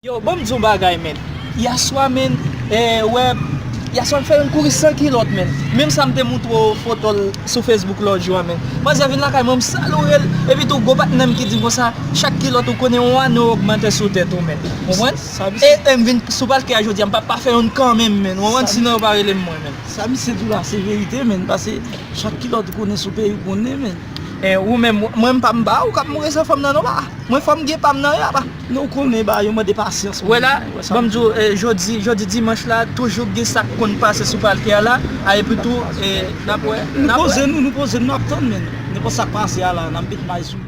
Yo banm di yon bagay menn, yaswa menn, ee wè, yaswa m fè yon kouri san kilòt menn, menm sa m te moutre w foto l sou Facebook lòt jou a menn, manzè vin lakay mwen m saloure l, epi tou gwo patnè m ki di m konsa, chak kilòt ou konnen yon ane ogmante sou tèt ou menn, konprann? Eeh m vin sou palke a jodia m pap pa fè youn kanmenm menn ou konprann sinon yo pa rele m mwen menn. Sa misye di w la se verite menn pase chak kilòt ou konnen sou peyi w konnen menn. Eh ou menm mwen m pa m ba ou kap mouri san fanm nan non ba mwen fanm gen pam nan ya ba. Non ou konnen ba yo mande pasyans menn. Wè la banm di w jodi jodi dimanch la toujou k gen sak konn pase sou palke a la a epi tou nap wè nap wè. Nou poze nou nou poze nou nap tann menn nenpòt sak pase a la nap met may sou li.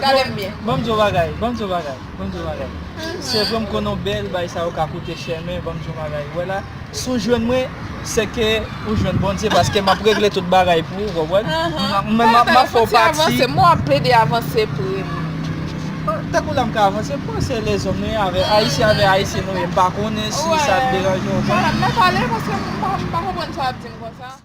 Gadem byen. Banm di yon bagay, banm di yon bagay, banm di yon bagay Sevre m konnen w bèl bagay sa yo ka koute chè men banm di yon bagay wè la si w jwenn mwen sèke ou jwenn Bondye paske map regle tout bagay pou ou konprann m menm map fè w pati Fòk ou plede avanse prim Tankou la m ka avanse m panse se lèzòm nou ye avè ayisyen avè ayisyen nou ye m pa konnen si sa deranje w Mwen pale paske m pa konprann sa w ap di m konsa.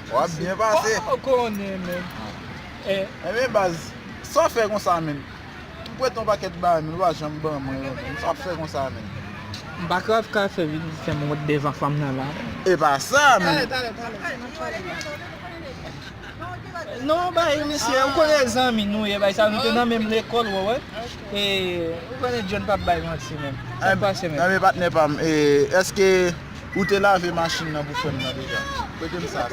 Wap byen pase. Ou pa konnen menm. Enben baz, sa w fè konsa menm? M prete yon pakèt bagay menm ou pa janm ban mwen yo menm. Sa wap fè konsa menm? M pa ka ap ka fè vin fè m wont devan fanm nan la menm. Epa sa menm. Talè, talè, talè, nan twalèt la. Non bay misye, ou konnen zanmi nou ye bay sa nou te nan menm lekòl wè wè. E ou konnen John pap bay manti menm. Sa k pase menm? Enben patnè pa m, eske. Ou te lave machin nan pou frèm nan deja? Pretem sa,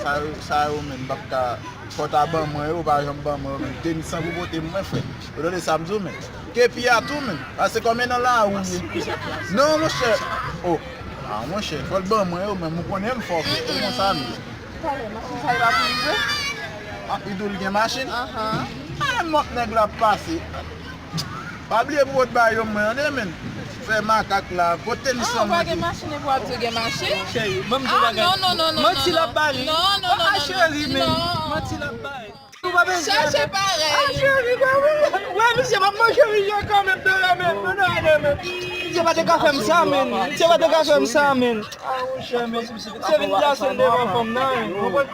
sa yo menm pap ka, fò ta ban mwen yo, ou pa janm ban mwen yo menm, tenis lan pou potem mwen frèm, ou tande sa m di w menm, kepi a tou menm, pase konbyen nan la ou ye, non monchè, oh, ah monchè, fòl ban mwen yo menm, ou konnen m fòkè, se konsa m ye. Talè machin sa yo pa pou rive? Ah, li di w li gen machin? Ahh. Menm lòt nèg la ap pase. Pa bliye pou ot ba yo mwen an de menn fè makak la kot tenis lan mwen te.